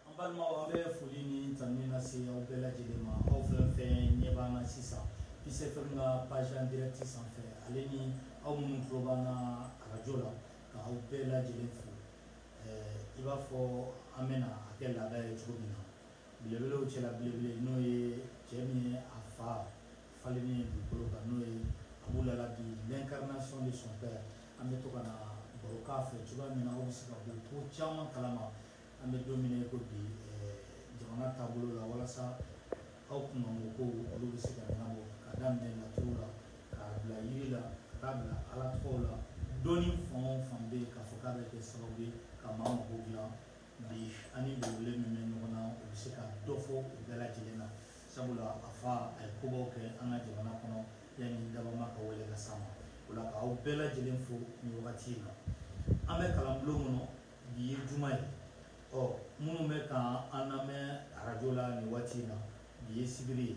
An balimaw an bɛ foli ni tanu lase aw bɛɛ lajɛlen ma aw fɛn fɛn ɲɛ b'an na sisan Peace FM ka page en direct sanfɛ ale ni aw minnu tulo b'an na arajo la ka aw bɛɛ lajɛlen fo ɛɛ i b'a fɔ an bɛna a kɛ laada ye cogo min na belebelew cɛla belebele n'o ye cɛ min ye a fa Falennen ye dugukolo kan n'o ye Abu Lalabi l'incarnation de son père an bɛ to ka na baro k'a fɛ cogoya min na aw bɛ se ka bɔ ko caman kalama an bɛ don min na i ko bi jamana taabolo la walasa aw kunkanko kow olu bɛ se ka ɲɛnabɔ ka daminɛ laturu la ka bila yiri la ka taa bila Ala tɔgɔw la dɔnni fan o fan bɛ yen k'a fɔ k'a bɛ kɛ sababu ye ka maa mago dilan Bi an ni belebele min bɛ ɲɔgɔn na, o bɛ se ka dɔ fɔ u bɛɛ lajɛlen na. Sabula a fa, a ye kobaw kɛ an ka jamana kɔnɔ yani dabama ka wele ka se a ma. O la ka aw bɛɛ lajɛlen fo nin wagati in na. An bɛ kalanbulon kɔnɔ, bi ye juma ye. Ɔ minnu bɛ ka an lamɛn arajo la nin waati in na, bi ye sibiri ye.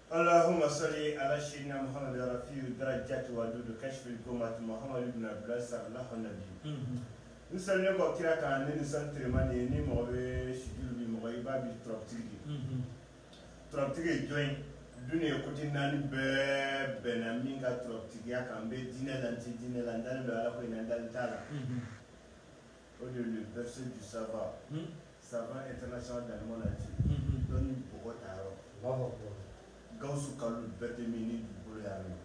Alahuma sɔli ala sayidina Muhamadu rafi darajati don don kasifu gumatu Muhamadu bun Abdila salalahu bi n sariya bɔ kira kan ni sanrema de ye ni mɔgɔ bɛ sidi ni mɔgɔ i b'a bi turabutigi de turabutigi ye jɔn dunuya kodi naani bɛɛ bɛnna min ka turabutigiya kan n bɛ dinɛ la dinɛ la n dalen don ala ko in na n dalen t'a la O de le verset du savant savant international dans le monde entier dɔnku mɔgɔ ta yɔrɔ b'a fɔ Gawusu Kalilu Bɛrɛte min ni bolo min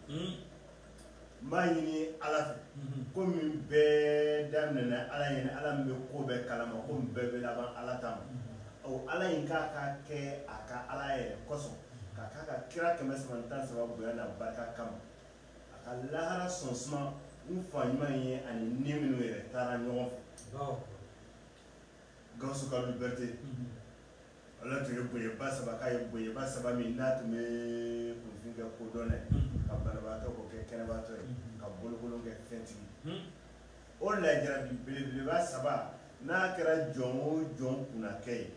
n b'a ɲini ala fɛ ko min bɛɛ daminɛna ala ɲini ala min bɛ ko bɛɛ kalama ko min bɛɛ bɛ laban ala ta ma ala in k'a ka kɛ a ka ala yɛrɛ kosɔn ka ka kira kɛmɛ saba tan saba bonya n'a barika kama A ka lahara sɔn suma n fa ɲuman in ye ani ni minnu yɛrɛ taara ɲɔgɔn fɛ Gawusu Kalilu Bɛrɛte ala tun ye bonyaba saba k'a ye bonyaba saba min n'a tun bɛ kunfin kɛ kodɔnna ye ka banabaatɔ k'o kɛ kɛnɛbaatɔ ye ka bolokolon kɛ fɛntigi o lajɛra bi belebeleba saba n'a kɛra jɔn o jɔn kunnakɛ ye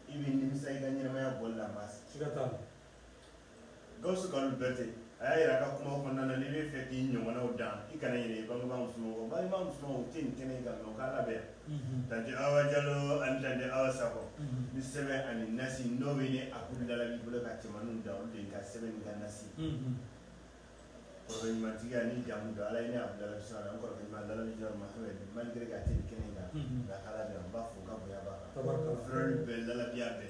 i bɛ nimisa i ka ɲɛnamaya bɔ la Gawusu Kalilu Bɛrɛte, a y'a jira a ka kumaw kɔnɔna na, n'i bɛ fɛ k'i ɲɔgɔnnaw dan, i kana ɲinɛ i bangebaa musomanw kɔ. Bangebaa musomanw, u tɛ nin kɛnɛ in kan, nka u ka labɛn yan. Tante Awa Jalo ani Tante Awa Sakɔ ni sɛbɛn ani nasi, n'o bɛ ne Abu Lalabi bolo ka cɛmanninw dan, olu de ye n ka sɛbɛn ni n ka nasi ye. Kɔrɔɲumantigiya ni jamu don ala ye ne abu lalabi sɔrɔ an kɔrɔ malgré que a tɛ kɛnɛ in kan nka ala an b'a fo ka bonya b'a kan frère bɛɛ lalabiya bɛɛ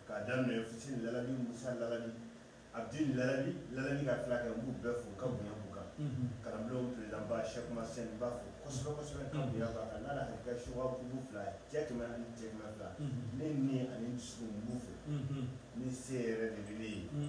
k'a daminɛ fuseni lalabi musa lalabi abdul lalabi ka fila kɛ n b'u bɛɛ fo ka bonya kan kalanbulon présidentba sɛki masɛn n b'a fo kosɛbɛsɛbɛ ka bonya kan n' hakili ka subugu fila cɛ kɛmɛ ni cɛ fila ne ni ani dusu b'u fɛ ni se yɛrɛ de bɛ ne ye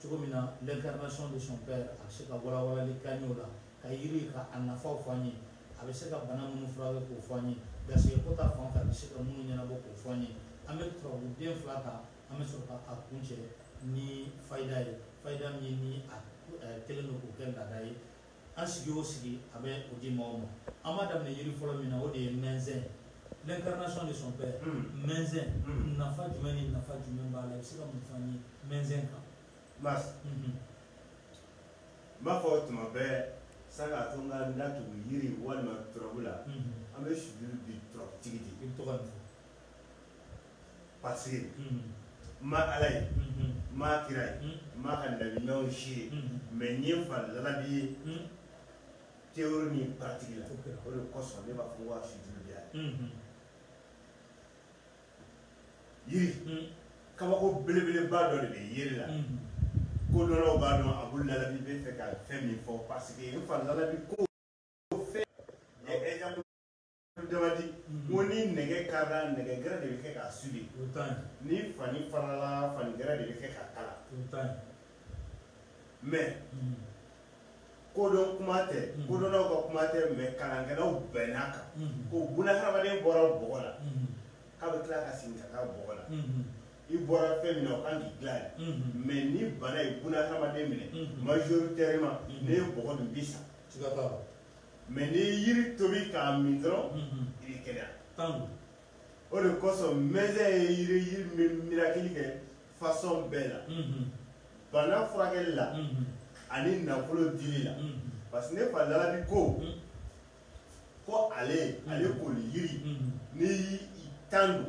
Cogo min na l'incarnation de son père a bɛ se ka walawalali k'an ye o la, ka yiri ka a nafaw f'an ye, a bɛ se ka bana minnu furakɛ k'o f'an ye, garisɛgɛ ko ta fan kan a bɛ se ka minnu ɲɛnabɔ k'o f'an ye, an bɛ turabu den fila ta, an bɛ sɔrɔ ka a kuncɛ ni fayida ye, fayida min ni a delilen don k'o kɛ laada ye. An sigi o sigi a bɛ o di maaw ma. An b'a daminɛ yiri fɔlɔ min na o de ye mɛnzɛn ye. L'incarnation de son père mɛnzɛn nafa jumɛn ni nafa jumɛn b'a la? I bɛ se ka mun fɔ an ye mɛnzɛn kan? Mas, unhun, n b'a fɔ tuma bɛɛ sani k'a to n ka n da tugu yiri walima turabu la, unhun, an bɛ sujuru di turabutigi de ma. I bɛ to ka nin fɔ. paseke n ma ala ye n ma kira ye n ma ka law si ye mɛ n ye n fa lalabi ye théorie ni pratique la o de kosɔn ne b'a fɔ waa sujuru b'a ye yiri kabako belebeleba dɔ de bɛ yiri la kodɔnnaw b'a dɔn abdul lalabi bɛ fɛ ka fɛn min fɔ paseke n fa lalabi ko Dama di ko ni nɛgɛ karila nɛgɛ gɛrɛ de bɛ kɛ k'a souder ni fani farala fani gɛrɛ de bɛ kɛ k'a kala mais kodɔn kuma tɛ kodɔnnaw ka kuma tɛ mais kalankɛlaw bɛnn'a kan ko bunahadamaden bɔra bɔgɔ la k'a bɛ tila ka segin ka taa bɔgɔ la i bɔra fɛn min na o kan k'i dilan de mais ni bana ye bunahadamaden minɛ majoritairement n'i ye bɔgɔ dun i bɛ sa mɛ n'i ye yiri tobi k'a min dɔrɔn i bɛ kɛnɛya o de kosɔn mɛnzɛn ye yiri yiri min bɛ mirakili kɛ fasɔn bɛɛ la bana furakɛli la ani nafolo dili la parce que ne fa lalabi ko ko ale ale koli yiri n'i tan don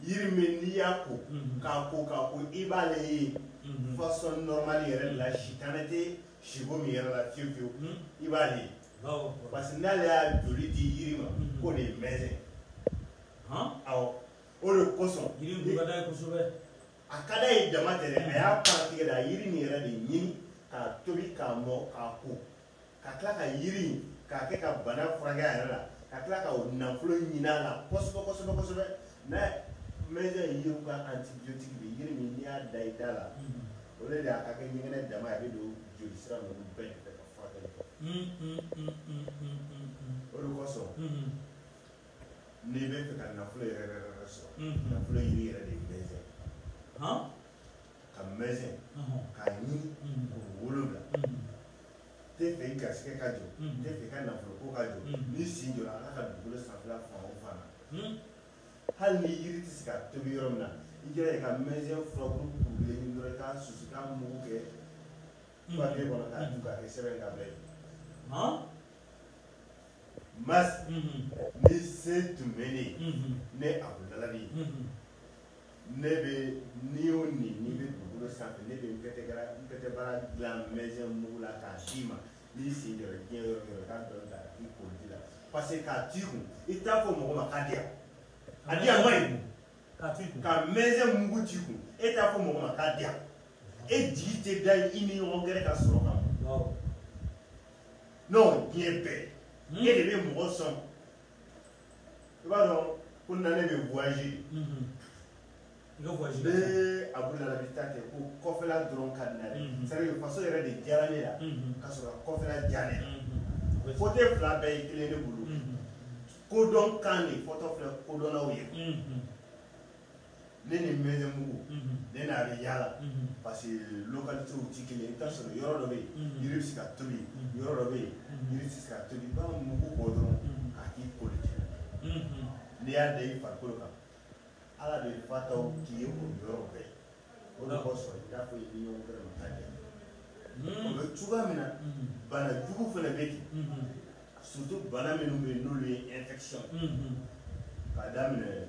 yiri min n'i y'a ko k'a ko k'a ko i b'ale ye fasɔn nɔrɔmani yɛrɛ la sitanɛ tɛ Siko min yɛrɛ la fiyewu fiyewu i b'ale ye parce que n'ale y'a joli di yiri ma mhm. k'o de ye mɛnzɛn ye awɔ o de kosɔn yiri dun ka d'a ye kosɛbɛ a ka d'a ye dama tɛ dɛ a y'a pratique de a yiri nin yɛrɛ de ɲini k'a tobi k'a mɔ k'a ko ka tila ka yiri in k'a kɛ ka bana furakɛ a yɛrɛ la ka tila ka nafolo ɲini a la kosɛbɛ kosɛbɛ kosɛbɛ Mais mɛnzɛn yiriw ka antibiotique bɛ yiri min n'i y'a da i da la o de y'a ka kɛ ɲɛgɛnɛ dama ye a bɛ don joli sira ninnu bɛɛ fɛ ka furakɛli kɛ o de kosɔn n'i bɛ fɛ ka nafolo yɛrɛ sɔrɔ nafolo yiri yɛrɛ de ye mɛnzɛn ka mɛnzɛn k'a ɲini ko wolonwula N tɛ fɛ i garisigɛ ka jɔ, n tɛ fɛ i ka nafolo ko ka jɔ, n'i sen jɔra Ala ka dugukolo sanfɛla fan o fan na, hali ni yiri tɛ se ka tobi yɔrɔ min na, i jija i ka mɛnzɛn furabulu kurulen ɲini dɔrɔn i k'a susu i k'a mugu kɛ papiye kɔnɔ k'a dun k'a kɛ sɛbɛn ye k'a bila i kun. Mais, ni se tun bɛ ne ye, ne Abudu Lalabi, Ne bɛ ni o ni n'i bɛ dugukolo sanfɛ ne bɛ petit bara dilan mɛnzɛn mugu la k'a d'i ma n'i sen jɔra diɲɛ yɔrɔ yɔrɔ ka dɔɔnin ta k'a k'i koliji la parce que k'a t'i kun i t'a fɔ mɔgɔ ma k'a di yan a di yan man ɲi ka mɛnzɛn mugu t'i kun e t'a fɔ mɔgɔ ma k'a di yan e jigi tɛ da i ni ɲɔgɔn gɛrɛ ka sɔrɔ kan non diɲɛ bɛɛ e de bɛ mɔgɔ sɔn i b'a dɔn ko na ne bɛ voyage bɛɛ Abudu Lalabi t'a kɛ ko kɔfɛla dɔrɔn ka di n na dɛ c'est à dire faso yɛrɛ de diyara ne la ka sɔrɔ kɔfɛla diya ne la fɔten fila bɛɛ ye kelen ye ne bolo kodɔn kan de fɔtɔ filɛ kodɔnnaw ye Ne ni mɛnzɛn mugu ne n'a bɛ yaala parce que localitéw tɛ kelen i bɛ taa sɔrɔ yɔrɔ dɔ bɛ yen yiri bɛ se ka tobi yɔrɔ dɔ bɛ yen yiri tɛ se ka tobi i b'a mugu bɔ dɔrɔn k'a k'i koliji n'i y'a da i farikolo kan ala de fa ta k'i ye o yɔrɔ bɛɛ ye o de kosɔn i t'a fɔ i ni ɲɔgɔn gɛrɛ ma k'a di yan o bɛ cogoya min na bana jugu fana bɛ ten surtout bana minnu bɛ yen n'olu ye infection k'a daminɛ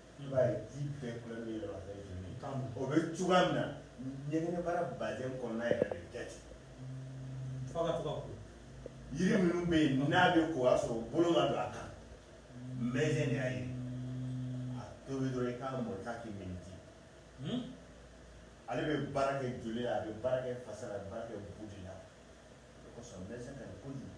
I b'a ye ji bɛɛ kulɛri bɛ yɛlɛma ka kɛ joli ye, tan, o bɛ cogoya min na ɲɛgɛnɛbara vagin kɔnɔna yɛrɛ de bɛ kɛ ten, f'a ka to ka ko, yiri minnu bɛ yen n'a bɛ ko o y'a sɔrɔ bolo ma don a kan, mɛnzɛn de y'a ye, a tobi dɔrɔn i k'a mɔ i k'a kɛ minji, hunn, ale bɛ baara kɛ joli la, a bɛ baara kɛ fasa la, a bɛ baara kɛ bu de la, o de kosɔn mɛnzɛn ka ɲi kojugu.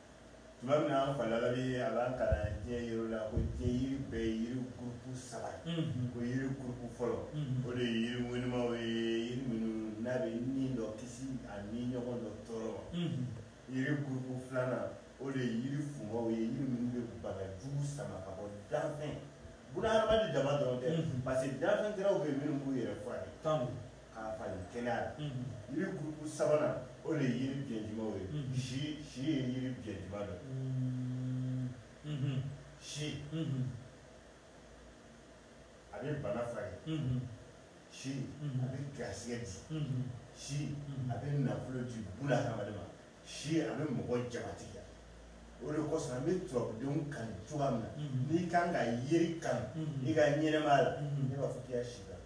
tuma min na an fa Lalabi a b'an kalan diɲɛ yiriw la ko diɲɛ yiri bɛɛ ye yiri gurupu saba ye ko yiri gurupu fɔlɔ o de ye yiri ŋɔnimaw ye yiri minnu n'a bɛ ni dɔ kisi a ni ɲɔgɔn dɔ tɔɔrɔ ma yiri gurupu filanan o de ye yiri funmaw ye yiri minnu bɛ bana jugu sama ka bɔ danfɛn bu na hadamaden dama dɔrɔn tɛ parce que danfɛn gɛrɛw bɛ yen minnu b'u yɛrɛ furakɛ K'a falen kɛnɛya la. Unhun. Yiri groupe sabanan o de ye yiri biɲɛnjimaw ye. Unhun. Si, si ye yiri biɲɛnjima dɔ ye. Uun, unhun. Si. Unhun. A bɛ bana furakɛ. Unhun. Si. Unhun. A bɛ garisigɛ di. Unhun. Si. Unhun. A bɛ nafolo di bunahadamaden ma. Si, a bɛ mɔgɔ jamatigiya. O de kosɔn an bɛ turabudenw kanu cogoya min na. Unhun. N'i ka kan ka yiri kanu. Unhun. I ka ɲɛnamaya la. Unhun. Ne b'a fɔ k'i ka si kanu.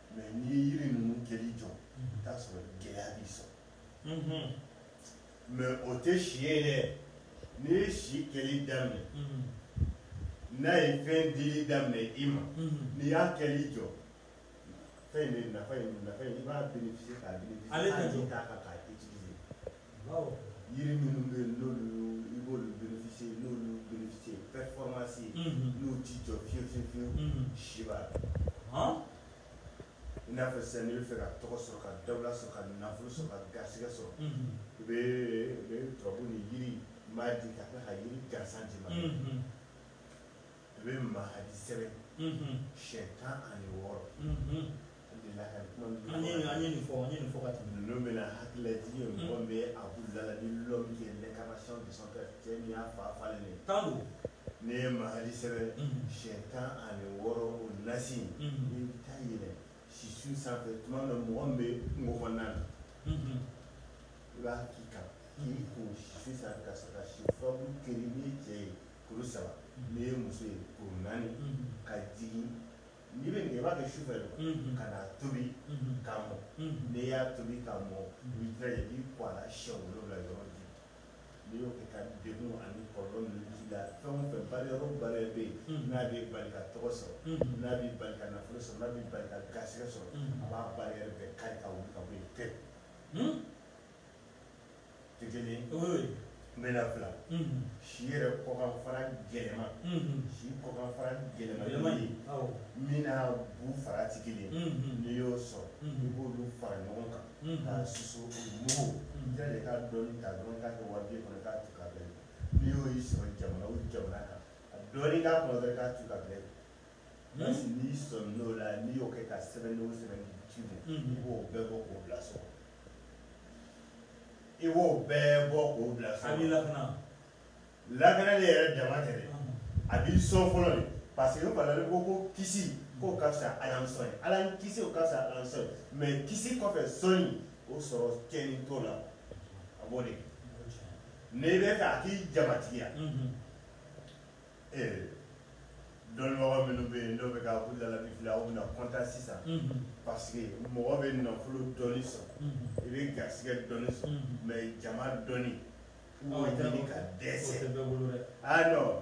Mais n'i ye yiri ninnu kɛli jɔ i t'a sɔrɔ gɛlɛya b'i sɔrɔ mais o tɛ si ye dɛ n'i ye si kɛli daminɛ n'a ye fɛn dili daminɛ i ma n'i y'a kɛli jɔ fɛn in de nafa in i b'a yiri minnu bɛ yen n'olu i b'olu bénéficier n'olu bénéficier performance n'u tɛ jɔ fiyewu fiyewu fiyewu si b'a la i n'a fɔ sisan n'i bɛ fɛ ka tɔgɔ sɔrɔ ka dawula sɔrɔ ka nafolo sɔrɔ ka garisigɛ sɔrɔ i bɛ turabu ni yirima di ka tila ka yiri gansan d'i ma. I bɛ mahadi sɛbɛn siɲɛ tan ani wɔɔrɔ bɛna hakililajigi ye mɔgɔ bɛ a la l'homme qui est l'incarnation de son père cɛ min y'a fa falen de tan don n'i ye mahadi sɛbɛn siɲɛ tan ani wɔɔrɔ o nasi i bɛ taa yɛlɛ sisun sanfɛ tuma min mɔgɔ bɛ mɔgɔ na i b'a k'i kan k'i ko si ka si kari n'i ye cɛ ye Kuru saba n'i ye muso ye kuru naani ka jigin n'i bɛ nin kɛ i b'a kɛ sufɛ de ka n'a tobi k'a mɔ n'i y'a tobi k'a mɔ i b'i jija i b'i ko a la siɲɛ wolonwula yɔrɔ ji n'i y'o kɛ ka degun ani kɔlɔlɔ ninnu b'i la fɛn o fɛn barrière o barrière bɛ yen n'a b'i bali ka tɔgɔ sɔrɔ n'a b'i bali ka nafolo sɔrɔ n'a b'i bali ka garisigɛ sɔrɔ a b'a barrière bɛɛ kari ka wuli ka bɔ yen pewu n bɛ fila si yɛrɛ kɔkan fara gɛlɛma si kɔkan fara gɛlɛma ye min n'a bu fara tɛ kelen n'i y'o sɔrɔ i b'olu fara ɲɔgɔn kan k'a susu mugu ja de k'a dɔɔni ta dɔrɔn k'a kɛ wari kɔnɔ k'a tu ka bɛn n'i y'o y'i sɔrɔ jamana o jamana kan a dɔɔni k'a kɔnɔ k'a tu ka bɛn n'i sɔn n'o la n'i y'o kɛ ka sɛbɛn o sɛbɛn ci i b'o bɛɛ bɔ k'o bila so i b'o bɛɛ bɔ k'o bila so. A b'i lakana. lakanali yɛrɛ dama tɛ dɛ a b'i sɔn fɔlɔ de parce que balali ko ko kisi k'o ka fisa Ala m'i sɔn ye Ala m'i kisi o ka fisa Ala m'i sɔn ye mais kisi kɔfɛ sɔn in o sɔrɔ cɛnni t'o la a b'o de kɛ n'i bɛ fɛ a k'i jamatigiya. ee dɔnnibagaw minnu bɛ yen n'o bɛ ka u dalabi fili aw bɛna content sisan parce que mɔgɔ bɛ nafolo dɔnni sɔrɔ i bɛ garisɛgɛ dɔnni sɔrɔ mais jama dɔnni i b'o ɲini ka dɛsɛ o tɛ bɛɛ bolo dɛ ah non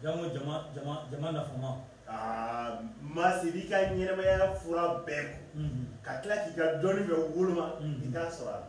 jango jama jama jama nafama aa maasi i b'i ka ɲɛnamaya fura bɛɛ ko ka tila k'i ka dɔnni bɛɛ woloma i t'a sɔrɔ a la.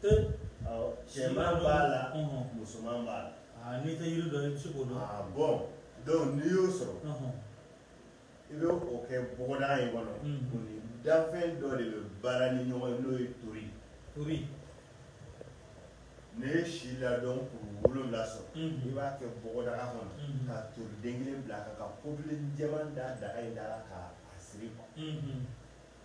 cɛman b'a la musoman b'a la ah, n'i tɛ yiri dɔn i bɛ se k'o dɔn ah, bon donc n'i y'o sɔrɔ i bɛ o kɛ bɔgɔdaga in kɔnɔ o ni danfɛn dɔ de bɛ baara ni ɲɔgɔn ye n'o ye tori tori n'i ye si ladɔn kuru wolonwula sɔrɔ i b'a kɛ bɔgɔdaga kɔnɔ ka toriden kelen bila a kan ka popeline jɛman da daga in da la k'a siri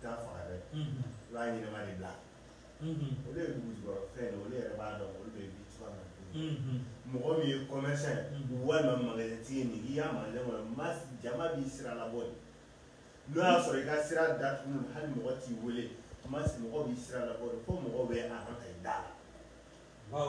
T'a faga dɛ i b'a ɲɛnama de bila olu ye dugujukɔrɔ fɛn ye olu yɛrɛ b'a dɔn olu bɛ bi cogoya min na mɔgɔ min ye commerçant ye walima magasintigi nin i y'a ma ma jama b'i sira labɔ de n'o y'a sɔrɔ i ka sira datugu hali mɔgɔ t'i weele ma mɔgɔ b'i sira labɔ de fo mɔgɔ bɛ a ka ka i da la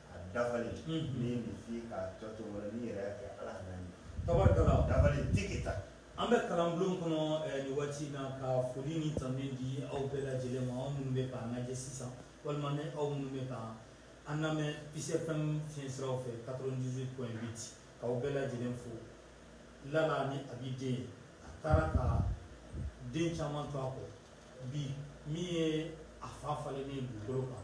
A dafa ni ta an bɛ kalanbulon kɔnɔ nin waati in na ka foli ni tanu di aw bɛɛ lajɛlen ma aw minnu bɛ k'an lajɛ sisan walima ni aw minnu bɛ ka an lamɛn Peace FM fiɲɛsira fɛ quatre-vingt-dix-huit point huit k'aw bɛɛ lajɛlen fo Lala ni a bɛ den a taara ka den caman to a kɔ bi min ye a fa falen ni dugukolo kan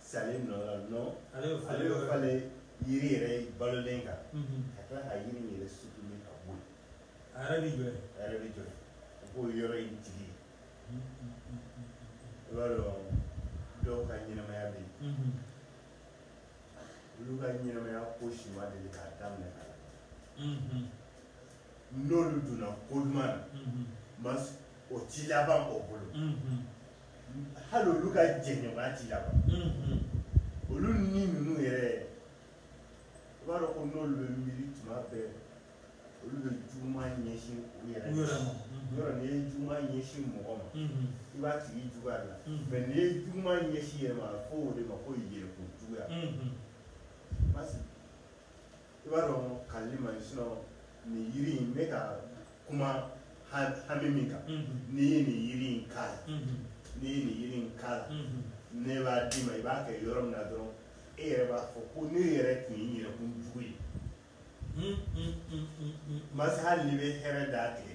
Falen yiri yɛrɛ balolen kan ka tila ka yiri yɛrɛ sutuli ka bɔ a yɛrɛ jɔ a yɛrɛ bɛ jɔ u k'o yɔrɔ in tigi i b'a dɔn dɔw ka ɲɛnamaya bɛ yen olu ka ɲɛnamaya ko si ma deli k'a daminɛ a la n'olu donna ko duman na o ti laban o bolo hali olu ka jɛɲɔgɔnya ti laban unhun olu ni ninnu yɛrɛ i b'a dɔn ko n'olu bɛ miiri tuma bɛɛ olu bɛ juguman ɲɛsin u yɛrɛ u yɛrɛ ma unhun yɔrɔ n'i ye juguman ɲɛsin mɔgɔ ma unhun i b'a tigi juguya de la unhun mais n'i ye juguman ɲɛsin yɛrɛ ma a bɛ fɔ o de ma ko yɛrɛkun juguya unhun parce que i b'a dɔn kali ma nin yiri in bɛ ka kuma hami min kan n'i ye nin yiri in k'a la n'i ye nin yiri in k'a la ne b'a d'i ma i b'a kɛ yɔrɔ min na dɔrɔn e yɛrɛ b'a fɔ ko ne yɛrɛ tun ye yɛrɛkun jugu ye masa hali n'i bɛ hɛrɛ d'a tigɛ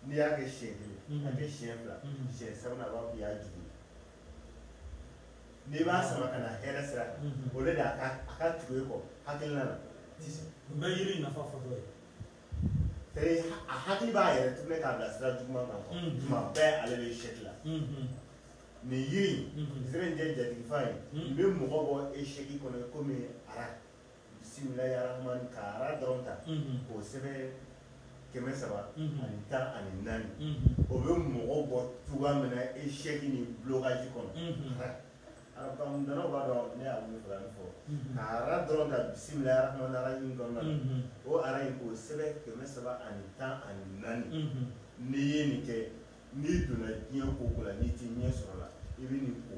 n'i y'a kɛ siɲɛ kelen a kɛ siɲɛ fila siɲɛ sabanan a b'a fɔ k'i y'a jugu ye n'i b'a sama ka na hɛrɛ sira kan o de a ka a ka tugu e kɔ hakilina na n bɛ yiri nafa fɔ dɔ ye a hakili b'a yɛrɛ tourner k'a bila sira juguman kan mm-hmm. tuma bɛɛ ale bɛ échec la mm-hmm. nin yiri in mm-hmm. zɛrɛninjɛ jatigifa in bɛ mɔgɔ bɔ échec kɔnɔ komi ara Bisimilaramani ka ara dɔrɔn ta k'o sɛbɛn kɛmɛ saba ani tan ani naani o bɛ mɔgɔ bɔ cogo min na échec ni blocage kɔnɔ arabudɔnnaw b'a dɔn ne y'a fɔ ka ara dɔrɔn ta bisimilayi arahmani arahim kɔnɔ o ara in k'o sɛbɛn kɛmɛ saba ani tan ani naani n'i ye nin kɛ n'i donna diɲɛ ko ko la n'i tɛ ɲɛ sɔrɔ la i bɛ nin ko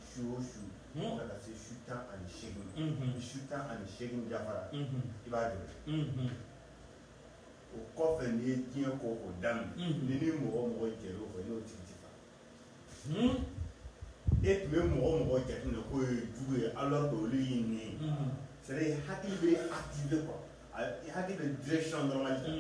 su o su fo ka taa se su tan ani seegin ma ni su tan ani seegin dafara i b'a jɔ o kɔfɛ n'i ye diɲɛ ko o daminɛ ni ni mɔgɔ mɔgɔ jɛr'o fɛ n'o tigi tɛ faga e tun bɛ mɔgɔ mɔgɔ jate minɛ k'o ye jugu ye alors que olu y'i nin ye c'est à dire hakili bɛ activer quoi hakili bɛ direction dɔrɔn ta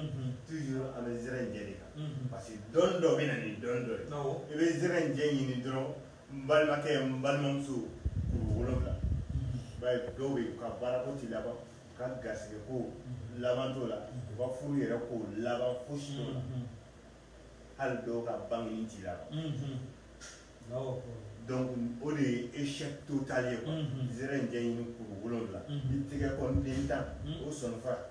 toujours an bɛ zɛrɛninjɛ de kan parce que dɔn dɔ bɛ na ni dɔn dɔ ye i bɛ zɛrɛninjɛ ɲini dɔrɔn n balimakɛ n balimamuso kuru wolonwula i b'a ye dɔw bɛ yen u ka baarako tɛ laban u ka garisigɛko laban t'o la u ka furu yɛrɛ ko laban fosi t'o la hali dɔw ka bangeli tɛ laban donc o de ye échec total ye quoi zɛrɛninjɛ ɲini kuru wolonwula i tɛgɛ kɔniden tan o sɔninfara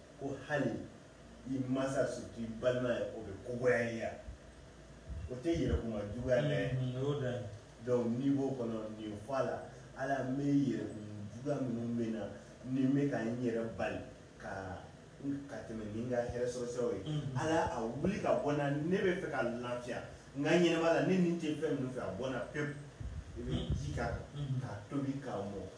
ko hali i masa surtout i balima ye o bɛ ko goya i ye o tɛ yɛrɛkuma juguya dɛ donc n'i b'o kɔnɔ nin fɔ a la ala n bɛ yɛrɛkun juguya minnu bɛ n na ni n bɛ ka n yɛrɛ bali ka tɛmɛ ni n ka hɛrɛ sɔrɔ siraw ye ala a wuli ka bɔ n na ne bɛ fɛ ka lafiya n ka ɲɛnamaya la ne nin tɛ fɛn minnu fɛ a bɔ n na pewu i bɛ ji k'a kan k'a tobi k'a mɔ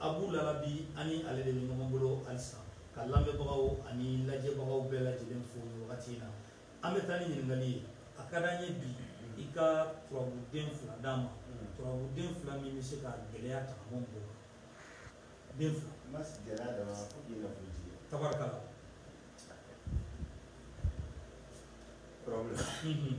Abu Lalabi an ni ale de bɛ ɲɔgɔn bolo halisa, ka lamɛnbagaw ani lajɛbagaw bɛɛ lajɛlen fo nin wagati in na. An bɛ taa ni ɲininkali ye, a ka di an ye bi i ka turabuden fila d'an ma, turabuden fila min bɛ se ka gɛlɛya ta ka bɔ mɔgɔw kan. Den fila. N ma sigi gɛlɛya dama na fo k'i nafolotigi ye. Tabarikala. Problème. Unhun.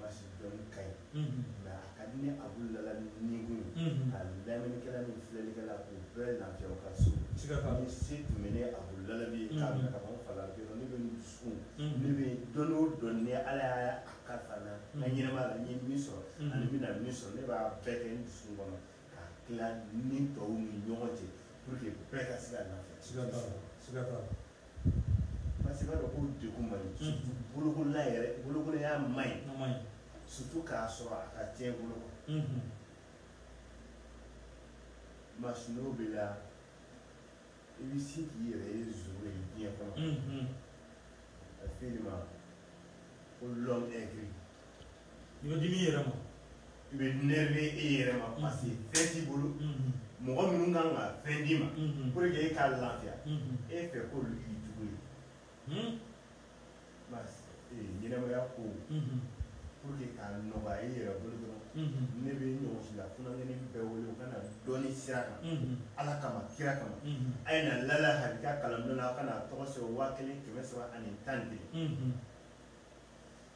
Basi dɔɔnin ka ɲi, unhun, mais a ka di ne Abu Lalabi ni kun ye, unhun, ka lamɛnnikɛla ni filɛlikɛla k'u bɛɛ lafiya u ka so, ni se tun bɛ ne Abu Lalabi ye, unhun, k'a minɛ ka bɔ n fa la a bɛ kɛ ne bɛ n dusukun, unhun, ne bɛ dɔnni o dɔnni ni Ala y'a kalifa n na, unhun, n ka ɲɛnamaya la n ye min sɔrɔ, unhun, ani n bɛna min sɔrɔ ne b'a bɛɛ kɛ n dusukun kɔnɔ K'a tila ni tɔw ni ɲɔgɔn cɛ pour que bɛɛ ka se ka lafiya. Siga t'a la, siga t'a la. Parce que i b'a dɔn ko degun man di. Surtout bolokolon yɛrɛ, bolokolonya man ɲi. A man ɲi. Surtout k'a sɔrɔ a ka cɛn i bolo quoi. Unhun. Masino b'i la, i bɛ se k'i yɛrɛ ye zéro ye diɲɛ kɔnɔ. Unhun. A bɛ fɔ e de ma ko l'homme aigri. i bɛ dimi i yɛrɛ ma i bɛ énerver i yɛrɛ ma parce que fɛn t'i bolo mɔgɔ minnu kan ka fɛn d'i ma pour que e ka lafiya e fɛ k'olu k'i jugu ye ɲɛnamaya ko pour que ka nɔgɔya i yɛrɛ bolo dɔrɔn ne bɛ ɲɔgɔn si la funankɛnin bɛɛ wele u ka na dɔnni sira kan ala kama kira kama a ye na lala halika kalanbulon na a ka na tɔgɔ sɛbɛn waa kelen kɛmɛ saba ani tan de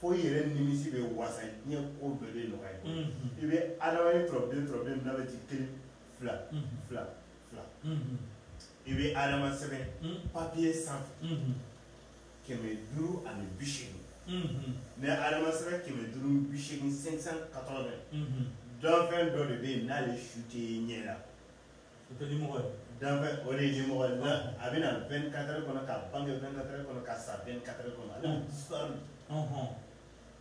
fo i yɛrɛ nimisi bɛ wasa diɲɛ ko bɛɛ bɛ nɔgɔya i bolo. I bɛ adama ye turabuden turabuden min n'a bɛ ci kelen fila fila fila i bɛ adama sɛbɛn papiye sanfɛ kɛmɛ duuru ani bi seegin n'i ye adama sɛbɛn kɛmɛ duuru ni bi seegin 580 danfɛn dɔ de bɛ yen n'ale su tɛ ye ɲɛ la. danfɛn o de ye dimɔgɔ ye nka a bɛ na 24 heures kɔnɔ ka bange 24 heures kɔnɔ ka sa 24 heures kɔnɔ ale sɔn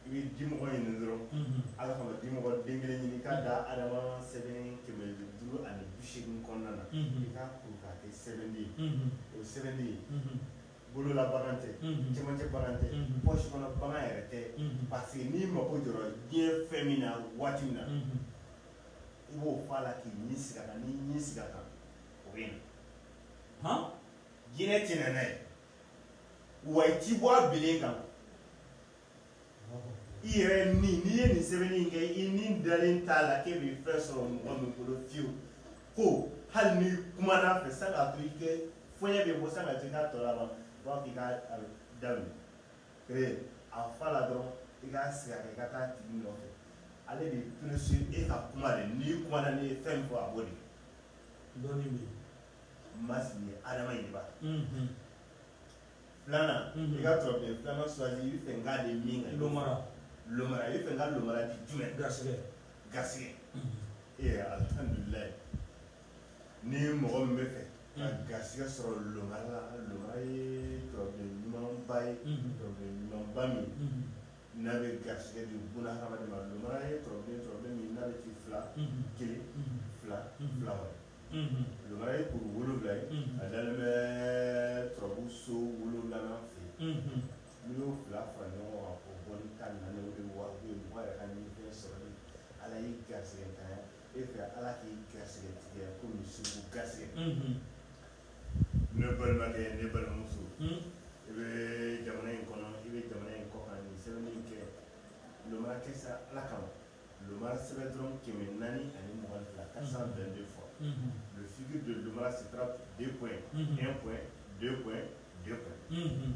i bɛ dimɔgɔ ɲini dɔrɔn ala kama dimɔgɔ den kelen ɲini k'a da adama sɛbɛn kɛmɛ duuru ani bi seegin kɔnɔna na i k'a kuru k'a kɛ sɛbɛnden ye o sɛbɛnden ye bolola bagan tɛ cɛmancɛ bagan tɛ pɔsi kɔnɔ bagan yɛrɛ tɛ parce que n'i mako jɔra diɲɛ fɛn min na waati min na i b'o fɔ a la k'i ɲi sigi a kan n'i ɲi sigi a kan o bɛ na hɔn jinɛ tɛ na n'a ye wa i ti bɔ a bilen kan i yɛrɛ ni n'i ye nin sɛbɛnni in kɛ i ni dalen t'a la k'e bɛ fɛn sɔrɔ mɔgɔ min bolo fiyewu ko hali n'i kumana a fɛ san'a to i kɛ fɔɲɛ bɛ bɔ san'a to i k'a tɔ laban u b'a fɔ k'i k'a daminɛ Ee a fa la dɔrɔn i k'a sigi a kan i ka taa a tigi nɔfɛ ale de ye plus e ka kuma de n'i kumana n'i ye fɛn min fɔ a b'o de kɛ dɔnni bɛ yen Mass nin ye Adama ye i b'a ye unhun filanan unhun i ka turabuden filanan choisi i bɛ fɛ n k'a di min kan lomara lomara i bɛ fɛ n ka lomara di jumɛn garisɛgɛ garisɛgɛ unhun ee alhamdulilahi Ni ye mɔgɔ min bɛ fɛ ka garigɛ sɔrɔ ɲumanba ye ɲumanba min n'a bɛ garigɛ de bɛ fila kelen fila fila ye kuru wolowula ye a dalen bɛ turabu so wolowula fɛ n y'o fila fara ɲɔgɔn kan o bɔ ka na wa sɔrɔ ala ye garigɛ ta E fɛ ala k'i gasɛgɛ tigɛ ko segu gasɛgɛ ne balimakɛ ne balimamuso i bɛ jamana in kɔnɔ i bɛ jamana in kɔ ni sɛbɛn kɛ kɛ sa ala kama sɛbɛn dɔrɔn kɛmɛ naani ani mɔgɔ fila ka san bɛn de fɔ sidi don si den den den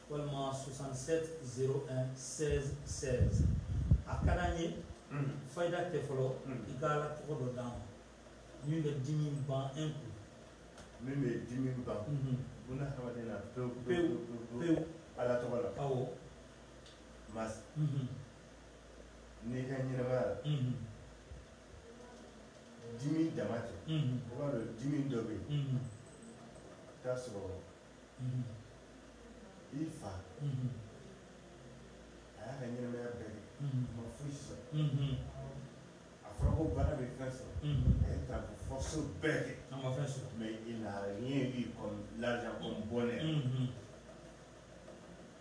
walima 67 01 16 16 a ka d'an ye fayida tɛ fɔlɔ i ka ala tɔgɔ dɔ d'an ma min bɛ dimi ban un coup min bɛ dimi ban buna hadamaden na pewu pewu pewu ala tɔgɔ la awɔ mas n'i ka ɲɛnamaya la dimi dama tɛ i b'a dɔn dimi dɔ bɛ yen i bɛ t'a sɔrɔ i fa a y'a ka ɲɛnamaya bɛɛ kɛ a ma foyi sɔrɔ a fɔra ko bana bɛ fɛn sɔrɔ a ye taa fɔso bɛɛ kɛ a ma fɛn sɔrɔ mɛ i la ɲɛ b'i kɔnɔ la kɔn bɔnɛ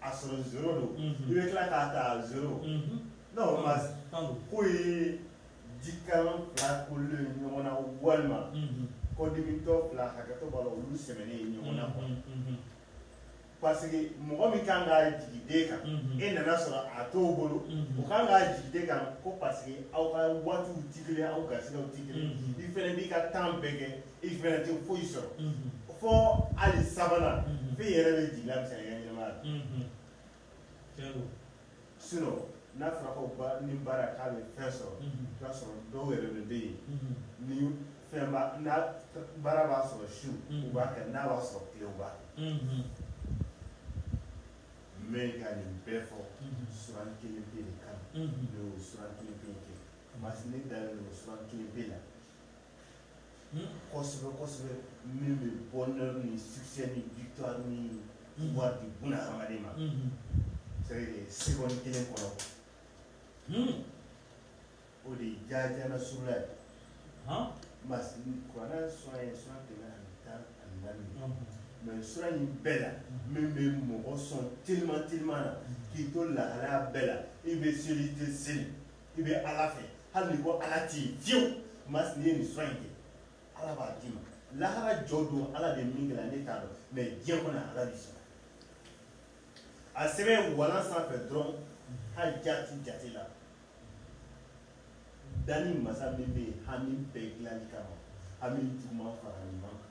A sɔrɔ zéro don i bɛ tila k'a ta zéro non mas ko ye jikalan fila kolen ɲɔgɔn na walima kɔdimitɔ fila hakɛto b'a la olu sɛmɛnen ye ɲɔgɔn na kɔnɔ parce que mɔgɔ min kan ka jigi den kan e nana sɔrɔ a t'o bolo o kan ka jigi den kan ko parce que aw ka waatiw tɛ kelen aw ka siraw tɛ kelen i fana b'i ka temps bɛɛ kɛ i fana tɛ foyi sɔrɔ fo hali sabanan fo i yɛrɛ bɛ jigin la bisa i ka ɲɛnamaya la sinon n'a fɔra ko ba ni baara k'a bɛ fɛn sɔrɔ i b'a sɔrɔ dɔw yɛrɛ de bɛ yen ni fɛn b'a ni baara b'a sɔrɔ su u b'a kɛ n'a b'a sɔrɔ tile u b'a kɛ mais ka nin bɛɛ fɔ suran kelen pe de kan ne y'o suran kelen pe kɛ parce que ne dalen don suran kelen pe la kosɛbɛ kosɛbɛ min bɛ bonheur ni succès ni victoire ni pouvoir di buna hadamaden ma c'est seconde kelen kɔnɔ o de ye jaaja nasurula ye parce que kuranɛ sura ye sura kɛmɛ ani tan ani naani mais sura in bɛɛ la min bɛ mɔgɔ sɔn teliman teliman na k'i to lahalaya bɛɛ la i bɛ seli i tɛ seli i bɛ ala fɛ hali n'i ko ala tɛ yen fiyewu mas n'i ye nin sura in kɛ ala b'a d'i ma lahara jɔ don ala bɛ min k'i la ne t'a dɔn mais diɲɛ kɔnɔ ala b'i sɔn a sɛbɛn walan sanfɛ dɔrɔn hali jati jate la danni masa min bɛ yen hami bɛɛ dilanni kama hami juguman fara ɲuman kan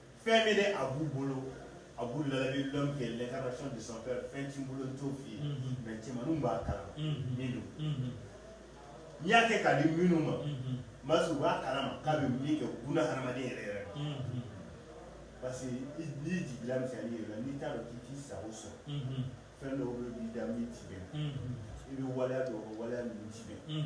Fɛn min a b'u bolo abu lalabi l'homme qui est l'incarnation de son père fɛn t'i bolo n t'o f'i ye mais cɛmanninw b'a kalama min don n'i y'a kɛ k'a di minnu ma masa u b'a kalama k'a bɛ min kɛ buna hadamaden yɛrɛ yɛrɛ parce que n'i jigi la n'i t'a dɔn k'i t'i sago sɔrɔ fɛn dɔw bɛ b'i da min tɛ bɛn i bɛ waleya dɔw kɛ waleya minnu tɛ bɛn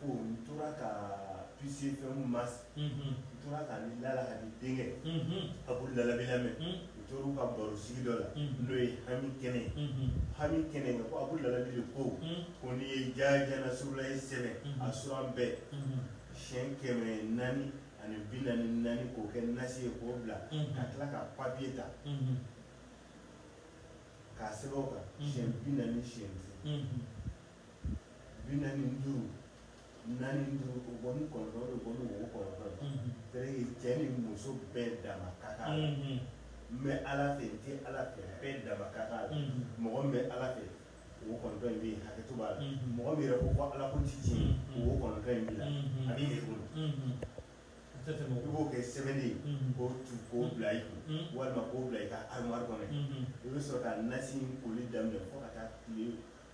Ko n tora ka puiser fɛn min masa n tora ka ni lala kadi denkɛ abu lalabi lamɛn u tor'u ka baro sigi dɔ la n'o ye hami kɛnɛ hami kɛnɛ ko abu lalabi de ko ko n'i ye jaa nasurulahi sɛbɛn a suran bɛɛ siɲɛ kɛmɛ naani ani bi naani ni naani k'o kɛ nasi ye k'o bila ka tila ka papiye ta k'a sɛbɛn o kan siɲɛ bi naani ni siɲɛ Bi naani ni duuru naani ni duuru o bɔ ni kɔnɔntɔn o bɔ ni wo kɔnɔntɔn ye cɛ ni muso bɛɛ dama ka kan n bɛ ala fɛ n tɛ ala fɛ bɛɛ dama ka kan mɔgɔ min bɛ ala fɛ wo kɔnɔntɔn in bɛ hakɛto b'a la mɔgɔ min yɛrɛ ko ko ala ko tɛ tiɲɛ wo kɔnɔntɔn in b'i la a b'i yɛrɛ bolo i b'o kɛ sɛbɛn ye k'o tu k'o bila i kun walima k'o bila i ka armoire kɔnɔ i bɛ sɔrɔ ka nasi in koli daminɛ fo ka taa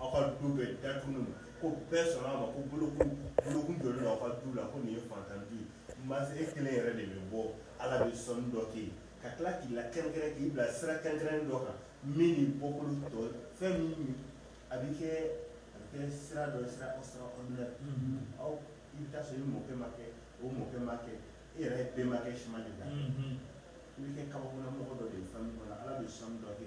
aw ka du bɛɛ datugu ko bɛɛ sɔnna a ma ko bolokun jɔlen don aw ka du la ko nin ye fantan du ye masa e kelen yɛrɛ de bɛ bɔ ala bɛ sɔnni dɔ kɛ ka tila k'i lakɛrɛnkɛrɛn k'i bila sira kɛrɛnkɛrɛnnen dɔ kan min ni bɔkolo tɔ fɛn min a bɛ kɛ a bɛ kɛ sira dɔ sira extraordinaire aw i bɛ taa sɔrɔ i mɔkɛ m'a kɛ o mɔkɛ m'a kɛ e yɛrɛ i bɛnbakɛ si ma deli a la i bɛ kɛ kabako mɔgɔ dɔ de ye famille kɔnɔ ala bɛ sɔnni dɔ kɛ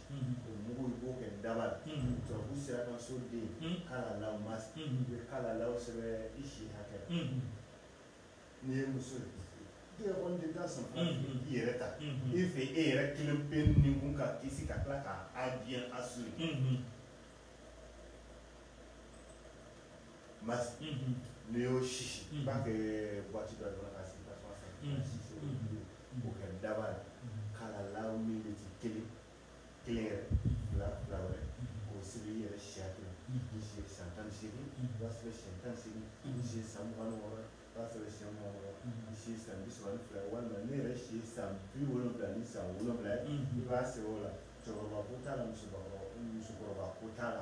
o mugu i b'o kɛ daba la tubabu sera ka so den kalala masa i bɛ kalala sɛbɛn i si hakɛ la n'i ye muso ye tɛgɛ kɔni den tan sɔninfara i yɛrɛ ta i fɛ e yɛrɛ kelen pe ni kun ka kisi ka tila k'a bien assurer masa n'i y'o sisi i b'a kɛ boîte dɔ kɔnɔ k'a sigi tasuma sanfɛ K'o kɛ daba ye ka la min bɛ ci kelen kelen yɛrɛ fila fila wɛrɛ k'o siri i yɛrɛ si hakɛ la i si ye san tan ni seegin i b'a sɛbɛn siɲɛ tan ni seegin i si ye san mugan ni wɔɔrɔ i b'a sɛbɛn siɲɛ mugan ni wɔɔrɔ i si ye san bi saba ni fila walima ne yɛrɛ si ye san bi wolowula ni san wolowula i b'a sɛbɛn o la cɛkɔrɔba ko t'a la musokɔrɔba musokɔrɔba ko t'a la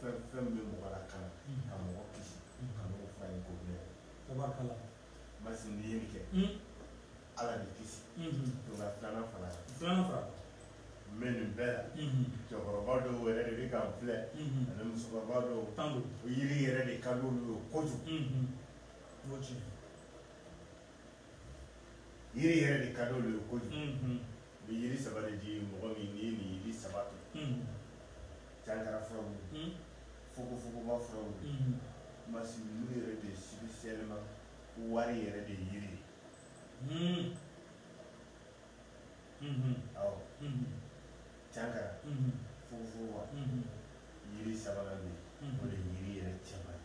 Fɛn o fɛn bɛ mɔgɔ lakana ka mɔgɔ kisi ka mɔgɔ fa ye ko mɛn masa n'i ye nin kɛ ala d'i kisi filanan fara filanan fara mais nin bɛɛ la cɛkɔrɔba dɔw yɛrɛ de bɛ k'an filɛ ani musokɔrɔba dɔw tan o yiri yɛrɛ de ka d'olu ye kojugu yiri yɛrɛ de ka di olu ye kojugu u bɛ yiri saba de di mɔgɔ min n'i ye nin yiri saba to cankara furaw fogofogoba furaw masilu yɛrɛ de spécialement wari yɛrɛ de yiri ye awɔ cankara fogofogoba yiri sabanan de o de yiri yɛrɛ cɛman ye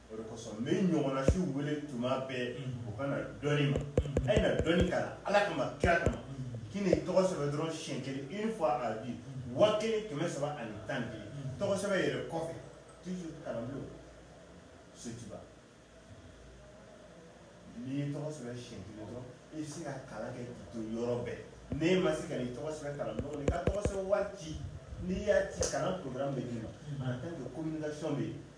O de kosɔn n bɛ n ɲɔgɔnnasiw wele tuma bɛɛ u ka na dɔnni ma a ye na dɔnni kalan Ala kama kira kama k'i n'i tɔgɔ sɛbɛn dɔrɔn siɲɛ kelen une fois à vie waa kelen kɛmɛ saba ani tan ni kelen tɔgɔ sɛbɛn yɛrɛ kɔfɛ toujours kalanbulon Sotiba n'i y'i tɔgɔ sɛbɛn siɲɛ kelen dɔrɔn i bɛ se ka kalan kɛ k'i to yɔrɔ bɛɛ n'e ma se ka n'i tɔgɔ sɛbɛn kalanbulon kɔnɔ i ka tɔgɔ sɛbɛn wari ci n'i y'a ci kalan programme bɛ d'i ma en tant que communication bɛ yen